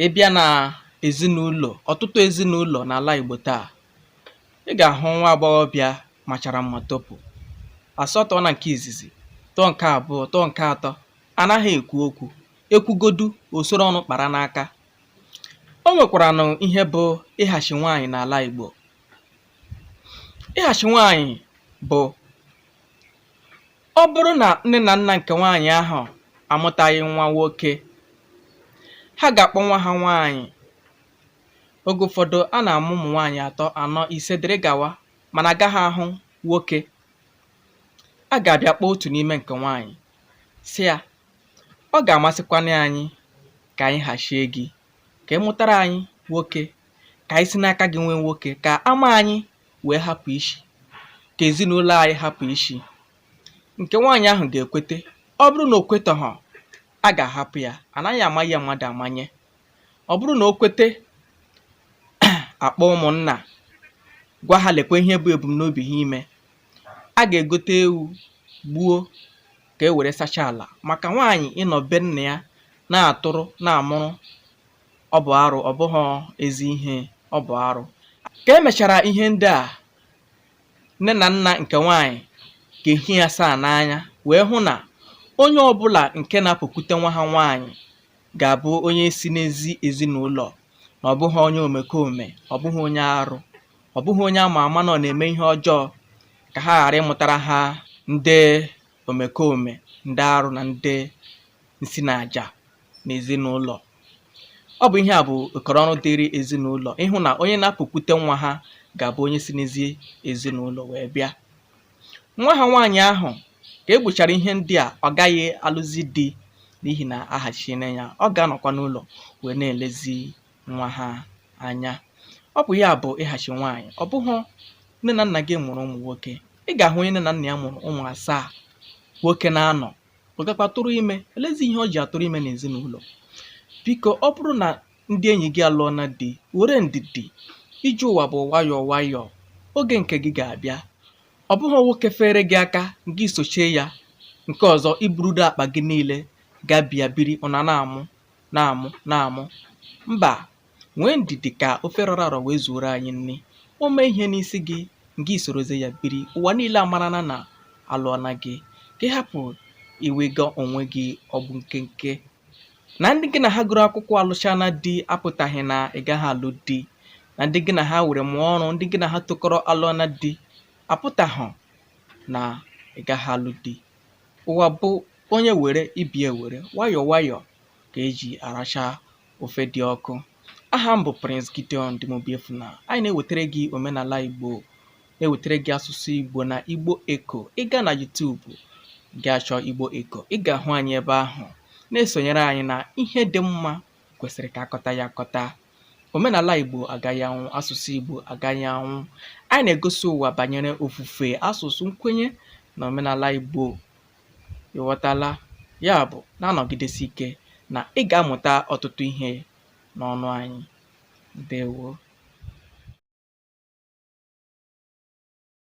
ị bịa na ezinụlọ ọtụtụ ezinụlọ n'ala Igbo taa ị ga-ahụ nwa agbọghọbịa machara mma topụ a sị ọ tọọna nke izizi tọọ nke abụọ tọọ nke atọ anaghị ekwu okwu e kwugodu o soro ọnụ kpara n'aka o nwekwaranụ ihe bụ ịhachi nwaanyị n'ala Igbo ịhachi nwaanyị bụ Ọ bụrụ na nne na nna nke nwaanyị ahụ amụtaghị nwa nwoke, ha ga-akpọ nwa ha nwaanyị. Oge ụfọdụ, a na-amụ ụmụ nwaanyị atọ, anọ, ise dịrị gawa mana a gaghị ahụ nwoke. A ga-abịa kpọọ otu n'ime nke nwaanyị sị ya, ọ ga-amasịkwanụ anyị ka anyị hachie gị, ka ị mụtara anyị nwoke, ka anyị si n'aka gị nwee nwoke, ka ama anyị wee hapụ ishi ka ezinụlọ anyị hapụ ishi nke nwaanyị ahụ ga-ekwete ọ bụrụ na o kwetaghọ a ga-ahapụ ya anaghị amanye ya mmadụ amanye ọ bụrụ na o kwete a kpọọ ụmụnna gwa ha lekwa ihe bụ ebumnobi ha ime a ga-egote ewu gbuo ka e were sachaa ala maka nwaanyị ịnọ be nna ya na-atụrụ na-amụrụ Ọ bụ arụ, ọ bụghị ezi ihe, ọ bụ arụ. Ka e mechara ihe ndị a, nne na nna nke nwaanyị ga-ehi asaa n'anya wee hụ na onye ọbụla nke na-apụkwute nwa ha nwaanyị ga-abụ onye si n'ezi ezinụlọ na ọ bụghị onye omekome, ọ bụghị onye arụ, ọ bụghị onye a ma ama na ọ na-eme ihe ọjọọ ka ha ghara ịmụtara ha ndị omekome ndị arụ na ndị nsi na aja n'ezinụlọ ọ bụ ihe a bụ okọrọ ọrụ dịịrị ezinụlọ ịhụ na onye na-apụkwute nwa ha ga-abụ onye si n'ezi ezinụlọ wee bịa nwa ha nwaanyị ahụ ka e gbuchara ihe ndị a ọ gaghị alụzi di n'ihi na ahachiene ya ọ ga-anọkwa n'ụlọ wee na-elezi nwa ha anya ọ bụ ya bụ ịhachi nwaanyị ọ bụghị nne na nna gị mụrụ ụmụ nwoke ị ga-ahụ onye nne na nna ya mụrụ ụmụ asaa nwoke naanọ ọ gakwa tụrụ ime olezi ihe o ji atụrụ ime n'ezinụlọ biko ọ bụrụ na ndị enyi gị alụọna di were ndidi ije ụwa bụ nwayọọ nwayọọ oge nke gị ga-abịa ọ bụghị nwoke fere gị aka gị sochie ya nke ọzọ i burudo akpa gị niile gaa be ya biri unu a na-amụ na-amụ na-amụ mba nwee ndidi ka ofe rọrọ arọ wee zuoro anyị nri o mee ihe n'isi gị ngwa i sorozie ya biri ụwa niile amarana na alụọna gị ka ị hapụ iwega onwe gị ọgbụ nkenke na ndị gị na ha gụrụ akwụkwọ alụchana di apụtaghị na ị gaghị alụ di na ndị gị na ha were mụọ ọrụ ndị gị na ha tokọrọ alụọna di apụtaghị na ị gaghị alụ di ụwa bụ onye were ibie were nwayọọ nwayọọ ka eji aracha ofe dị ọkụ aha m bụ Prince Gideon Dimobiefuna anyị na-ewetara gị omenala Igbo na-ewetara gị asụsụ Igbo na Igbo Eko ị gaa na YouTube gị achọ Igbo Eko ị ga-ahụ anyị ebe ahụ na-esonyere anyị na ihe dị mma kwesịrị ka akọta ya akọta omenala igbo agaghị anwụ asụsụ igbo agaghị anwụ anyị na-egosi ụwa banyere ofufe asụsụ nkwenye na omenala igbo ịghọtala ya bụ na-anọgidesi ike na ị ga-amụta ọtụtụ ihe n'ọnụ anyị ndewo